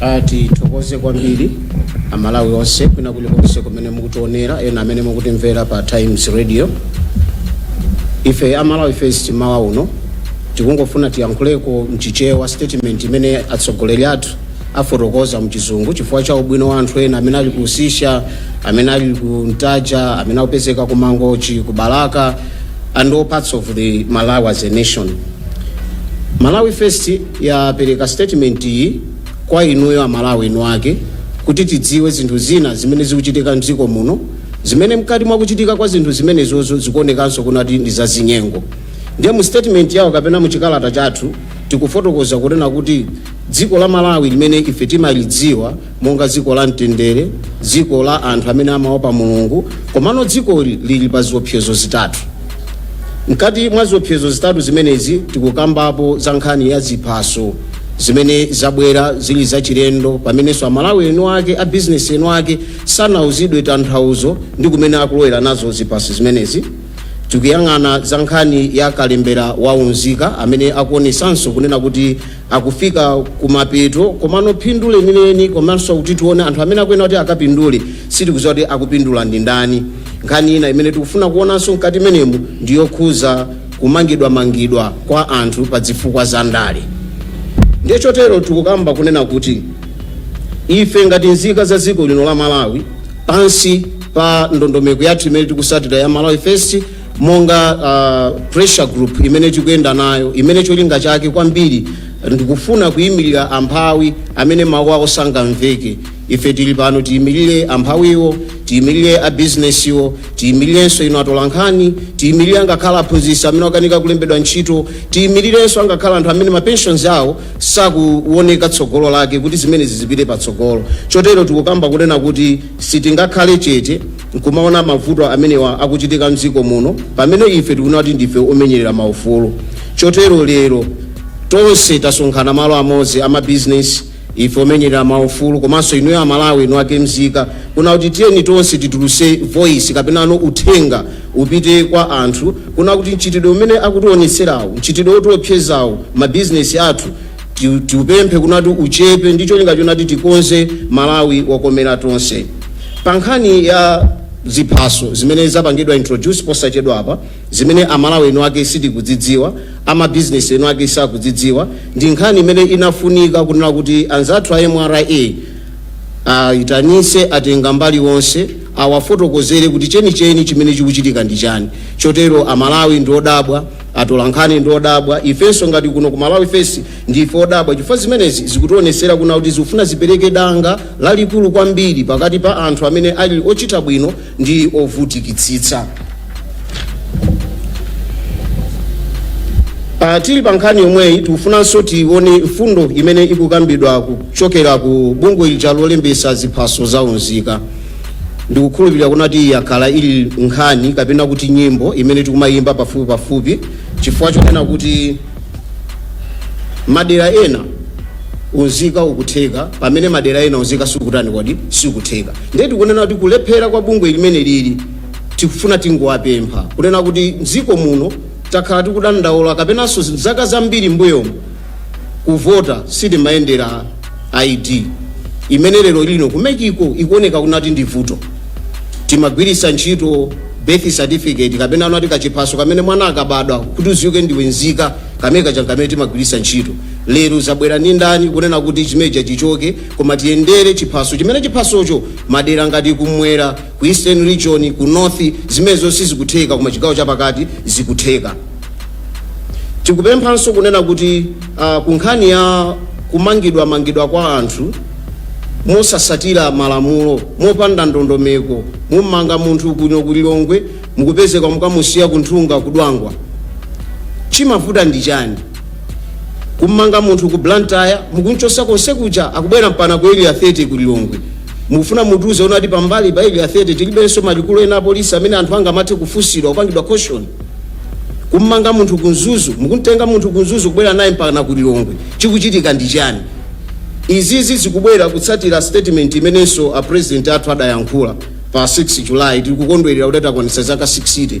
Ah, tithokoze kwambiri amalawi onse kwina kulikonse kumene mukutionera ena amene mukutimvera pa times radio ife a malawi first mmawa uno tikungofuna tiyankhuleko mchichewa statement imene atsogoleri athu afotokoza mchizungu chifukwa cha ubwino wa anthu ena amene ali ku usisha amene ali ku ntaja amene akupezeka ku mangochi ku balaka and all parts of the malawi as a nation Malawi First yapereka statement iyi kwa inuyo amalawi eni ake kuti tidziwe zinthu zina zimene zikuchitika mdziko muno zimene mkati mwa kuchitika kwa zinthu zimenezozo zikuonekanso kunati ndi zachinyengo ndiye mu statement yawo kapena mu chikalata chathu tikufotokoza kunena kuti dziko la malawi limene ife timalidziwa monga dziko la mtendere, dziko la anthu amene amaopa Mulungu, komano dzikoli lili pa ziopsezo zitatu. Mkati mwa ziopsezo zitatu zimenezi tikukambapo za nkhani ya ziphaso zimene zabwera zili zachilendo pamenenso amalawi eni ake a bizinesi eni ake sanauzidwe tanthauzo ndi kumene akulowera nazo ziphaso zimenezi tikuyang'ana za nkhani ya kalembera wa unzika amene akuonesanso kunena kuti akufika kumapeto komano phindu lenileni komanso kuti tione anthu amene akuyenera kuti akapindule sitikudziwa kuti akupindula ndi ndani nkhani ina imene tikufuna kuonanso mkati mmenemu ndi yokhuza kumangidwamangidwa kwa anthu pa zifukwa za ndale ndiye chotero tikukamba kunena kuti ife ngati nzika za dziko lino la malawi pansi pa ndondomeko yathu imene tikusatira ya malawi first monga uh, pressure group imene tikuyenda nayo imene cholinga chake kwambiri ndikufuna kuyimirira amphawi amene mawu awo sangamveke ife tili pano tiyimirire amphawiwo tiyimirire abizinesiwo tiyimirirenso inu atolankhani tiyimirire angakhale aphunzitsi amene akanika kulembedwa ntchito tiyimirirenso angakhale anthu amene mapensions awo sakuwoneka tsogolo lake kuti zimenezi zizipita patsogolo chotero tikukamba kunena kuti sitingakhale chete nkumaona mavuto amenewa akuchitika mdziko muno pamene ife tikunena kuti ndife omenyerera maufulu chotero lero tonse tasonkhana malo amodzi a mabizinesi ife omenyerera maufulu komanso inuyo amalawi eni ake mzika kuna kuti tiyeni tonse tituluse voice kapenano uthenga upite kwa anthu kuna kuti mchitidwe umene akutionetserawo mchitidwe wotiopsezawo mabizinesi athu Ti- tiupemphe kunati uchepe ndi cholinga chonati tikonze malawi wokomera tonse pa nkhani ya ziphaso zimene zapangidwa introduce posachedwapa zimene amalawi eni ake sitikudzidziwa a mabizinesi eni ake sakudzidziwa ndi nkhani imene inafunika kunena kuti anzathu a mra ayitanise atenga mbali onse awafotokozere kuti chenicheni chimene chikuchitika ndi chani chotero amalawi ndiodabwa atolankhani ndi odabwa ifenso ngati kuno ku malawi first ndife odabwa chifukwa zimenezi zikutionesera kuna kuti zikufuna zipereke danga lalikulu kwambiri pakati pa anthu amene ali ochita bwino ndi ovutikitsitsa Uh, tili pa nkhani yomweyi tikufunanso tione mfundo imene ikukambidwa kuchokera ku bungwe lija lolembesa ziphaso za unzika ndikukhulupirira kunati yakhala ili nkhani kapena kuti nyimbo imene tikumayimba pafupi pafupi chifukwa chonena kuti madera ena unzika ukutheka pamene madera ena unzika sikutani kodi sikutheka ndiye tikunena kuti kulephera kwa bungwe limeneli tikufuna tingowapempha kunena kuti mdziko muno takhala tikudandaula kapenanso zaka zambiri mbuyomu kuvota sitimayendera id imene lero lino ku mec ko ikuoneka kunati ndi vuto timagwiritsa ntchito birth certificate kapena anati kachiphaso kamene mwana akabadwa kuti udziwike ndiwe nzika kamene kaja kamene timagwiritsa ntchito lero zabwera ndi ndani kunena kuti chimeja chichoke koma tiyendere chiphaso chimene chiphasocho madera ngati kumwera ku Eastern region, ku North zimenezo sizikutheka koma chigawo chapakati zikutheka. Tikupemphanso kunena kuti uh, ku nkhani ya kumangidwa mangidwa kwa anthu mosasatira malamulo mopanda ndondomeko mummanga munthu kuno ku Lilongwe mukupezeka mukamusiya ku nkhunga ku dwangwa chimavuta ndi chani kummanga munthu ku Blantyre mukunchosa konse kuja akubwera mpana ku area 30 ku Lilongwe mufuna mutiuze kunati pambali pa area 30 tilibenso malikulu ena apolisi amene anthu angamathe kufunsidwa kupangidwa caution kummanga munthu ku mzuzu mukumtenga munthu ku mzuzu kubwera naye mpakana ku lilongwe chikuchitika ndi chani izizi zikubwera kutsatira statement imenenso a president athu adayankhula pa 6 july tikukondwerera kuti takwanitsa zaka 60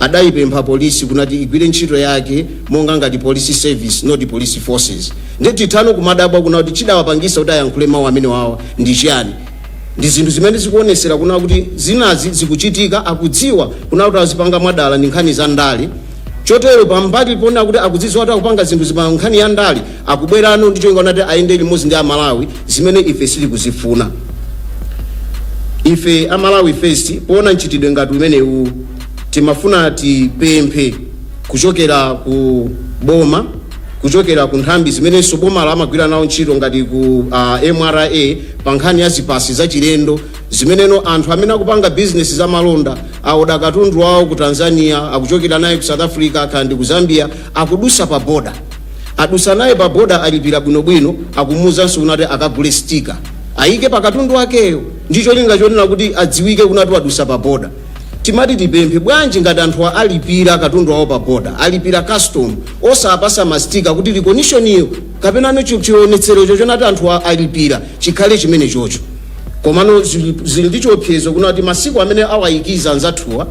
adayipempha polisi kunati igwire ntchito yake monga ngati police service not police forces Nde timathano kumadabwa kuna kuti chidawapangisa kuti ayankhule mau amenewawa ndi chiyani? Ndi zinthu zimene zikuonesera kuna kuti zinazi zikuchitika akudziwa kuna kuti azipanga mwadala ndi nkhani za ndale chotero pambali pona kuti akudzidziwa kuti akupanga zinthuzi pa nkhani ya ndale akubwerano ndi cholinga kuti ayende limodzi ndi amalawi zimene ife sitikuzifuna ife a malawi first poona mchitidwe ngati umenewu timafuna tipemphe kuchokera ku boma kuchokera ku nthambi zimenenso boma lamagwira nawo ntchito ngati ku uh, mra pa nkhani ya ziphaso zachilendo zimeneno anthu amene akupanga bizinesi za malonda aoda katundu wawo ku tanzania akuchokera naye ku south africa akhale ndi ku zambia akudusa pa boda adusa naye pa boda alipira bwinobwino akumuuzanso kunati akagule stika ayike pa katundu wakeyo ndi cholinga chonena kuti adziwike kunati wadusa pa boda Timati tipemphe, bwanji ngati anthuwa alipira katundu wawo pa border, alipira custom, osawapasa ma sticker kuti recognition-yo kapenano chi chionetserocho chonati anthuwa alipira chikhale chimenechocho. Komano zili zili ndi chiopsezo kunena kuti masiku amene awayikiza anzathuwa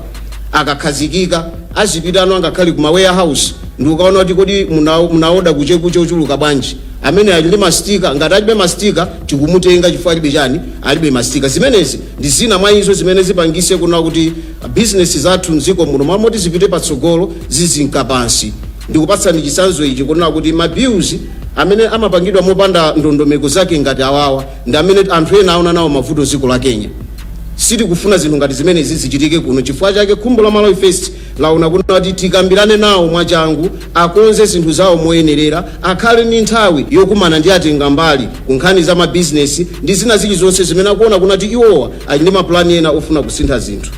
akakhazikika azipitano angakhale ku ma warehouse ndikukaona kuti kodi muna munawoda kuchekuche ochuluka bwanji. amene ali ndi masitika ngati alibe masitika tikumutenga chifukwa alibe chani alibe masitika zimenezi ndi zina mwa izo zimene zipangise kunena kuti bizinesi zathu mdziko muno m'malo moti zipite patsogolo zizinka pansi ndikupatsani chisanzo ichi kunena kuti mabills amene amapangidwa mopanda ndondomeko zake ngati awawa ndi amene anthu ena aona nawo mavuto dziko la kenya sitikufuna zinthu ngati zimenezi zichitike kuno chifukwa chake khumbo la malawi first laona kuti tikambirane nawo mwachangu, akonze zinthu zawo moyenerera, akhale ndi nthawi yokumana ndi atengambali ku nkhani za mabizinesi ndi zina zilizonse zimene akuona kuti iwowa ali ndi mapulani ena ofuna kusintha zinthu.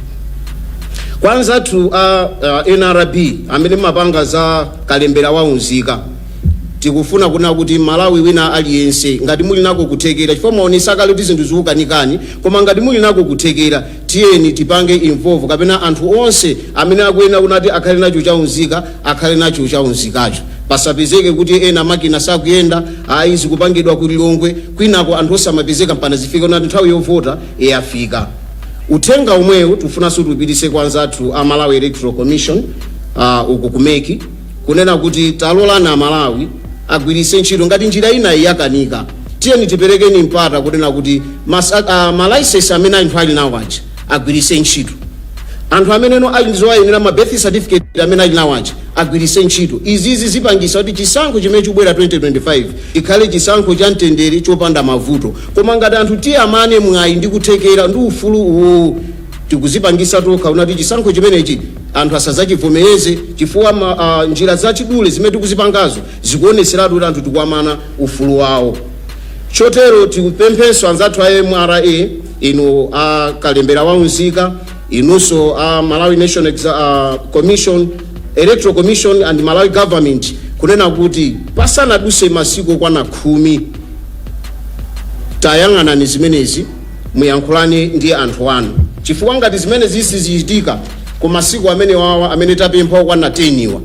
Kwa anzathu a uh, nrb amene mumapanga za kalembera wa unzika tikufuna kunena kuti mmalawi wina aliyense ngati muli nako kuthekera chifukwa mwaonesa kale kuti zinthu zikukanikani koma ngati muli nako kuthekera Tiyeni tipange involve kapena anthu onse amene akuyenera kunena kuti akhale nacho cha unzika akhale nacho cha unzikacho. Pasapezeke kuti ena makina sakuyenda, ayi zikupangidwa ku Lilongwe kwinako anthu osamapezeka mpana zifike kunena kuti nthawi yovota yafika. Uthenga omweu tikufunanso tiupitise kwa anzathu a Malawi Electoral Commission uh, uku ku mec. kunena kuti talolani amalawi agwiritse ntchito ngati njira inayi yakanika tiyeni tiperekeni mpata kunena kuti masa- ah, malaisesi amene anthu ali nawo aja agwiritse ntchito anthu amenenso ali ndi zowayenera ma birth certificate amene ali nawo aja agwiritse ntchito izizi zipangisa kuti chisankho chimene chikubwera 2025 ikhale chisankho cha mtendere chopanda mavuto koma ngati anthu tiwamane mwayi ndi kuthekera ndi ufulu uwu tikuzipangisa tokha kunena kuti chisankho chimenechi anthu asazachivomereze chifukwa ma, a, njira zachidule zimene tikuzipangazo zikuoneseratu kuti anthu tikuwamana ufulu wawo chotero tikupempheninso anzathu a mra inu a kalembera wa unzika inunso a malawi nation Exa a commission electoral commission and malawi government kunena kuti pasanaduse masiku okwana khumi tayang'anani zimenezi muyankhulane ndi anthu anu chifukwa ngati zimenezi sizichitika ku masiku amenewawa amene tapempha okwana 10 wa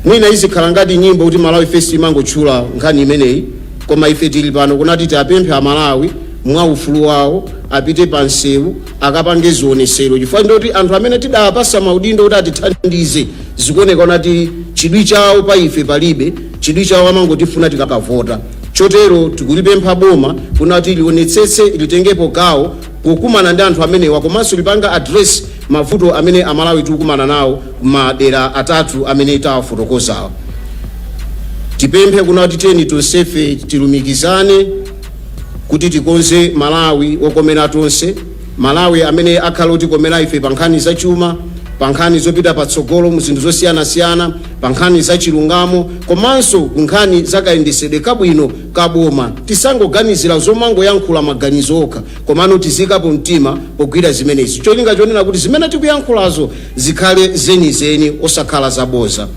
mwina izikhala ngati nyimbo kuti malawi first imangotchula nkhani imeneyi koma ife tili pano kunena kuti tiwapemphe amalawi mwa ufulu wawo apite pa msewu akapange zionesero chifukwa ndi choti anthu amene tidawapasa maudindo kuti atithandize zikuoneka kuti chidwi chawo pa ife palibe chidwi chawo amangotifuna tikakavota Chotero tikulipempha boma kuna kuti lionetsetse litengepo gawo pokumana ndi anthu amenewa komanso lipange address mavuto amene amalawi tikukumana nawo madera atatu amene tawafotokozawa. Tipemphe kuna kuti tiyeni tonsefe tilumikizane kuti tikonze malawi wokomera tonse. Malawi amene akhale otikomera ife pa nkhani za chuma, pa nkhani zopita patsogolo mu zinthu zosiyanasiyana, pa nkhani za chilungamo komanso ku nkhani za kayendesedwe kabwino ka boma. Tisangoganizira zomangoyankhula maganizo okha komano tiziikapo mtima pogwira zimenezi cholinga chonena kuti zimene tikuyankhulazo zikhale zenizeni osakhala zaboza.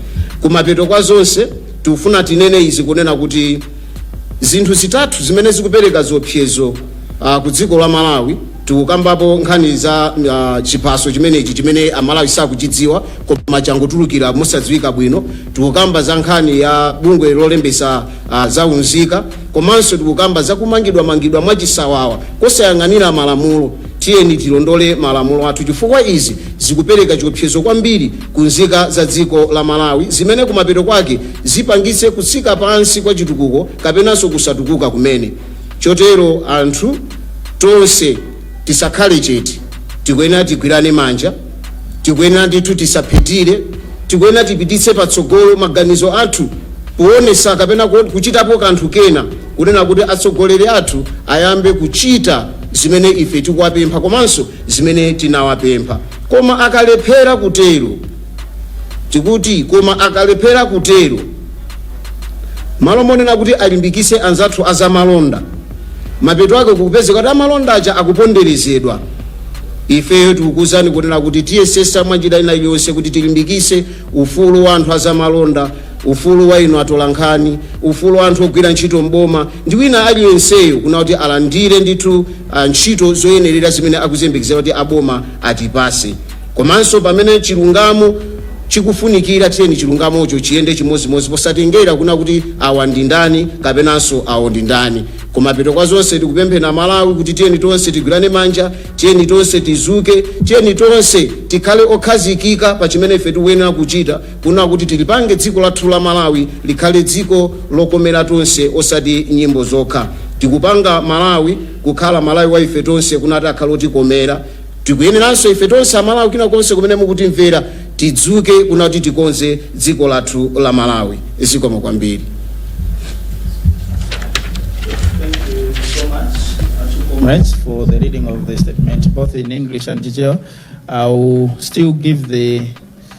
Kumapeto kwa zonse tikufuna tinene izi kunena kuti. zinthu zitatu zimene zikupereka ziopsezo uh, ku dziko la malawi tikukambapo nkhani za uh, chiphaso chimenechi chimene amalawi sakuchidziwa koma changotulukira mosadziwika bwino tikukamba za nkhani ya bungwe lolembesa uh, za unzika komanso tikukamba za kumangidwamangidwa mwachisawawa kosayang'anira malamulo tiyeni tilondole malamulo athu chifukwa izi zikupereka chiopsezo kwambiri kunzika za dziko la Malawi zimene kumapeto kwake zipangitse kutsika pansi kwa chitukuko kapenanso kusatukuka kumene. Chotero anthu tonse tisakhale chete, tikuyenera tigwirane manja, tikuyenera ndithu tisaphethire, tikuyenera tipititse patsogolo maganizo athu poonesa kapena kuchitapo kanthu kena kunena kuti atsogoleri athu ayambe kuchita zimene ife tikuwapempha komanso zimene tinawapempha. Koma akalephera kutero. Tikuti koma akalephera kutero. Mmalo monena kuti alimbikise anzathu a zamalonda, mapeto ake kukupezeka kuti amalonda aja akuponderezedwa. Ifeyo tikukuuzani kunena kuti tiyesesa mwanjira ina iliyonse kuti tilimbikise ufulu wa anthu a zamalonda. Ufulu wa inu atolankhani, ufulu wa anthu ogwira ntchito m'boma ndi wina aliyenseyo kuna kuti alandire ndithu a, ntchito zoyenerera zimene akuziyembekeza kuti a boma atipase. Komanso pamene chilungamo chikufunikira tiyeni chilungamocho chiyende chimozimozi posatengera kuna kuti awa ndi ndani kapenanso awo ndi ndani. Kumapeto kwa zonse tikupempheni a Malawi kuti tiyeni tonse tigwirane manja, tiyeni tonse tizuke, tiyeni tonse tikhale okhazikika pa chimene ife tikuyenera kuchita. Kuna kuti tilipange dziko lathu la Malawi likhale dziko lokomera tonse osati mnyimbo zokha. Tikupanga Malawi kukhala Malawi wa ife tonse kunati akhale otikomera. Tikuyeneranso ife tonse aMalawi kwina kulikonse kumene mukutimvera tidzuke kuna kuti tikonze dziko lathu la Malawi. Zikomo kwambiri. comrades for the reading of the statement, both in English and Chichewa. I will still give the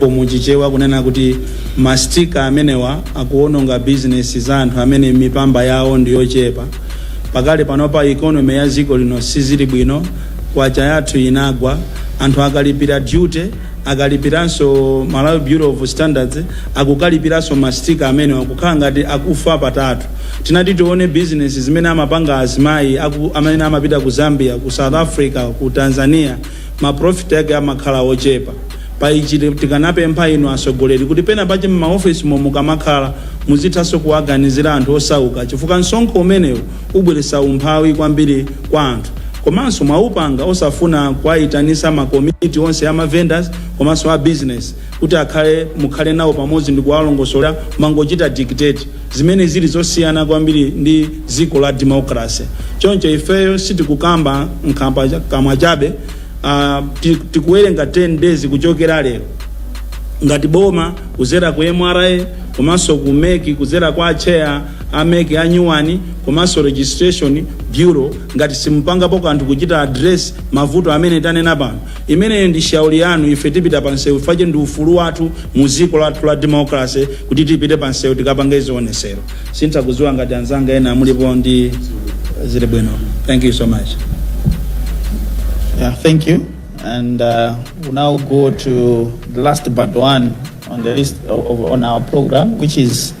po mu chichewa kunena kuti mastika amenewa akuononga bizinesi za anthu amene mipamba yawo ndi yochepa pakali panopa ikonomi ya dziko lino sizili bwino kwacha yathu inagwa anthu akalipira duty akalipiranso malawi bureau of standards akukalipiranso mastika amenewa kukhala ngati akufa patatu tinati tione mabizinesi amene amapanga azimayi aku- amene amapita ku zambia ku south africa ku tanzania ma profit ake amakhala ochepa. Pa ichi tikanapempha inu atsogoleri kuti pena pache mma office mo mukamakhala muzithaso kuwaganizira anthu osauka chifukwa msonkho umenewu ubweretsa umphawi kwambiri kwa anthu. Komanso mwaupanga osafuna kuwaitanitsa ma komiti onse a ma vendors komanso a business. kuti akhale mukhale nawo pamodzi ndikuwalongosola mangochita dictate zimene zili zosiyana kwambiri ndi dziko la democracy choncho ifeyo sitikukamba nkhambakamwa chabe uh, tikuwerenga 10 days kuchokera lero ngati boma kuzera ku mra komanso ku mec kuzera kwa a chair a mec anyuwani komanso registration bureau ngati simupangapo kanthu kuchita address mavuto amene tanena pano Imeneyo ndi shauri yanu, ife tipita pa msewu chifukwa che ndi ufulu wathu mu dziko lathu la democracy kuti tipite pa msewu tikapange zionesero. Sinditha kudziwa ngati anzanga ena mulipo ndi zili bwino. Thank you so much. Yeah, thank you. And uh, we now go to the last but one on the list of, of, on our program, which is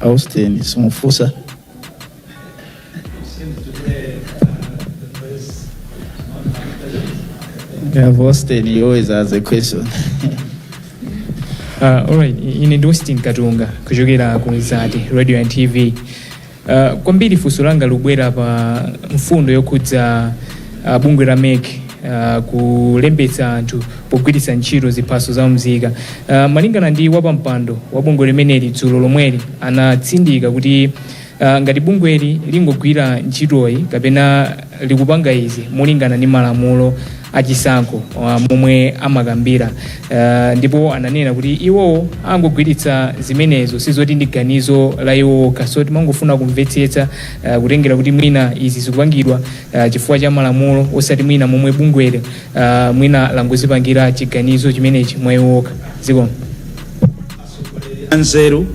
Austin simufunsa Yeah, Austin, you always ask a question. Uh, alright, ine ndi Austin Katunga kuchokera ku Mzati Radio and TV Uh, kwambiri funso langa libwera pa mfundo yokhudza uh, bungwe la mec uh, kulembetsa anthu pogwiritsa ntchito ziphaso za mzika uh, malingana ndi wapampando wa bungwe limeneli dzulo lomweli anatsindika kuti uh, ngati bungweli lingogwira ntchitoyi kapena likupanga izi molingana ndi malamulo a chisankho uh, momwe amakambira uh, ndipo ananena kuti iwowo angogwiritsa zimenezo sizoti ndi ganizo la iwo okha so timangofuna kumvetsetsa uh, kutengera kuti mwina izi zikupangidwa uh, chifukwa cha malamulo osati mwina momwe bungweli uh, mwina langozipangira chiganizo chimenechi mwa iwo okha zikomo Atsogoleri anzeru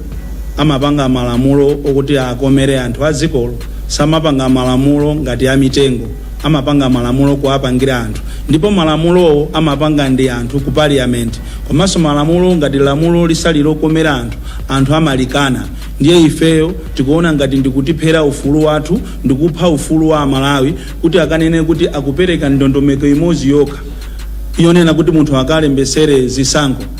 amapanga malamulo okuti akomere anthu adzikolo. Samapanga malamulo ngati a mitengo. Amapanga malamulo kuwapangira anthu. Ndipo malamulowo amapanga ndi anthu ku parliament. Komanso malamulo ngati lamulo lisali lokomera anthu, anthu amalikana. Ndiye ifeyo tikuona ngati ndikutiphera ufulu wathu ndikupha ufulu wa amalawi kuti akanene kuti akupereka ndondomeko imodzi yokha yonena kuti munthu akalembetsere zisankho.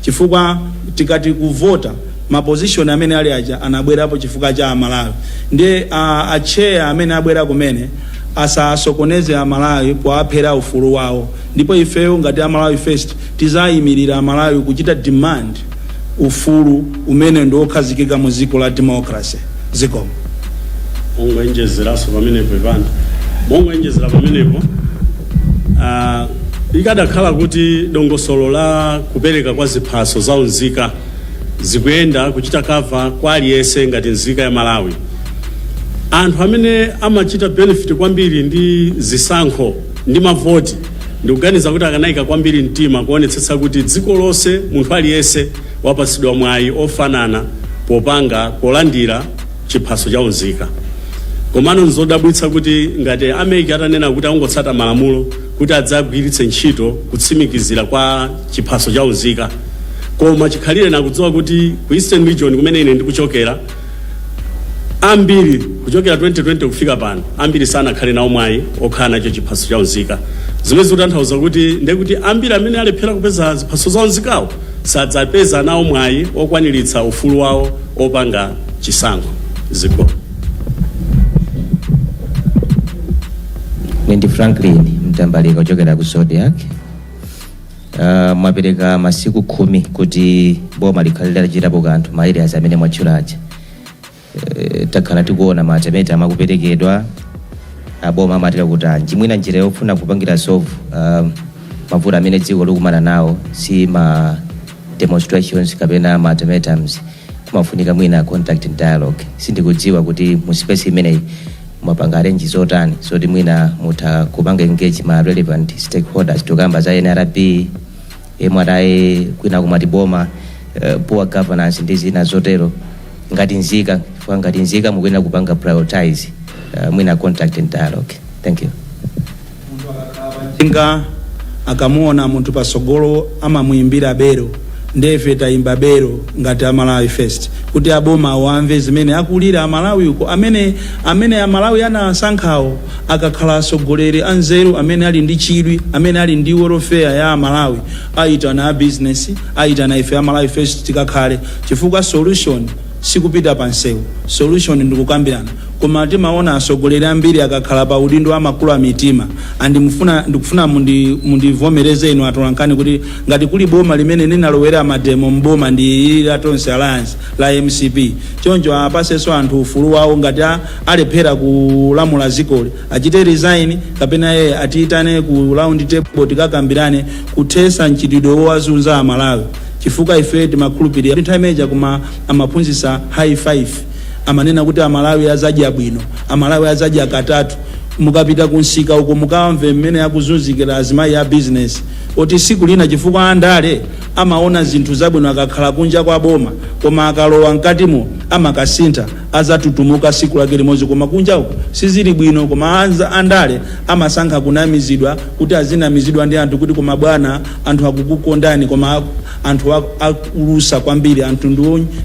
chifukwa tikati kuvota ma position amene ali aja anabwerapo chifukwa cha amalawi ndiye a, a chair amene abwera kumene asasokoneze amalawi powaphera ufulu wawo ndipo ifeyo ngati amalawi first tizayimirira amalawi kuchita demand ufulu umene ndi wokhazikika mu dziko la democracy Zikomo. mongoenjezeraso pamenepo ivana mongoenjezera pamenepo ah, ikadakhala kuti dongosolo la kupereka kwa ziphaso za unzika zikuyenda kuchita cover kwa aliyense ngati nzika ya malawi anthu amene amachita benefit kwambiri ndi zisankho ndi mavoti ndikuganiza kuti akanayika kwambiri mtima kuonetsetsa kuti dziko lonse munthu aliyense wapatsidwa mwayi ofanana popanga, polandira chiphaso cha unzika. Komano nzodabwitsa kuti ngati a mec atanena kuti akungotsata malamulo kuti adzagwiritse ntchito kutsimikizira kwa chiphaso cha unzika koma chikhalireni akudziwa kuti ku Eastern Region kumene ine ndikuchokera Ambiri kuchokera 2020 kufika pano, ambiri sanakhale nawo mwayi okhala nacho chiphaso cha unzika, zimene zikutanthauza kuti ndiye kuti ambiri amene alephera kupeza ziphaso za unzikawo sadzapeza nawo mwayi okwaniritsa ufulu wawo opanga chisankho. Zikomo. Ine ndi Franklin Mtambalika kuchokera ku Zodiak. Uh, mwapereka masiku khumi kuti boma likhale litachitapo kanthu ma areas amene mwatchula aja uh, takhala tikuona ma ultimatum akuperekedwa aboma amatera kuti anji mwina njira yofuna kupangira solve uh, mavuto amene dziko likumana nawo si ma demonstrations kapena ma ultimatums kumafunika mwina contact and dialogue sindikudziwa kuti mu space imeneyi Mwapanga arrange zotani zoti mwina mutha kupanga engage ma relevant stakeholders tikukamba za nrb, mra kwinaku mwati boma, poor governance ndi zina zotero ngati nzika chifukwa ngati nzika mukuyenera kupanga prioritise mwina contact and dialogue. Thank you. njinga akamuona munthu patsogolo amamuimbira bero nde ife taimba bero ngati a malawi first kuti aboma awo amve zimene akulira amalawi uko amene amene amalawi anasankhawo akakhala atsogoleri anzeru amene ali ndi chidwi amene ali ndi welfare ya amalawi ayitane a business ayitane ife a malawi first tikakhale chifukwa solution sikupita pa nsewu solution ndikukambirana koma timaona asogoleri ambiri akakhala pa udindo amakula mitima and mufuna ndikufuna mundi mundivomereze inu atolankhani kuti ngati kuli boma limene linalowera mademo mboma ndi ili la tonse alliance la mcp choncho apaseso anthu ufulu wawo ngati a- alephera kulamula zikoli achite resign kapena iye atiyitane ku round table tikakambirane kuthesa mchitidwe wowazunza amalawi chifukwa ife timakhulupilira kuti nthawi imene chakwera amaphunzitsa high five amanena kuti amalawi azadya bwino amalawi azadya katatu mukapita ku msika uko mukamve mmene akuzunzikira azimayi a business oti siku lina chifukwa andale amaona zinthu zabwino akakhala kunja kwa boma koma akalowa mkatimo amakasintha azatutumuka siku lake limozi koma kunja uko sizili bwino koma andale amasankha kunamizidwa kuti azinamizidwa ndi anthu kuti koma bwana anthu akukukondani koma anthu akulusa kwambiri anthu ndi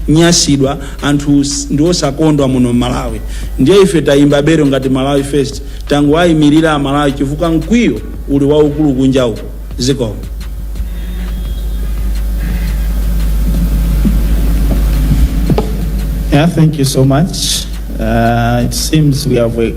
onyasidwa anthu ndi osakondwa muno mmalawi ndiye ife tayimba belo ngati malawi first tangowayimirira amalawi chifukwa mkwiyo uli waukulu kunja uko zikomo Yeah, thank you so much. Uh, it seems we have a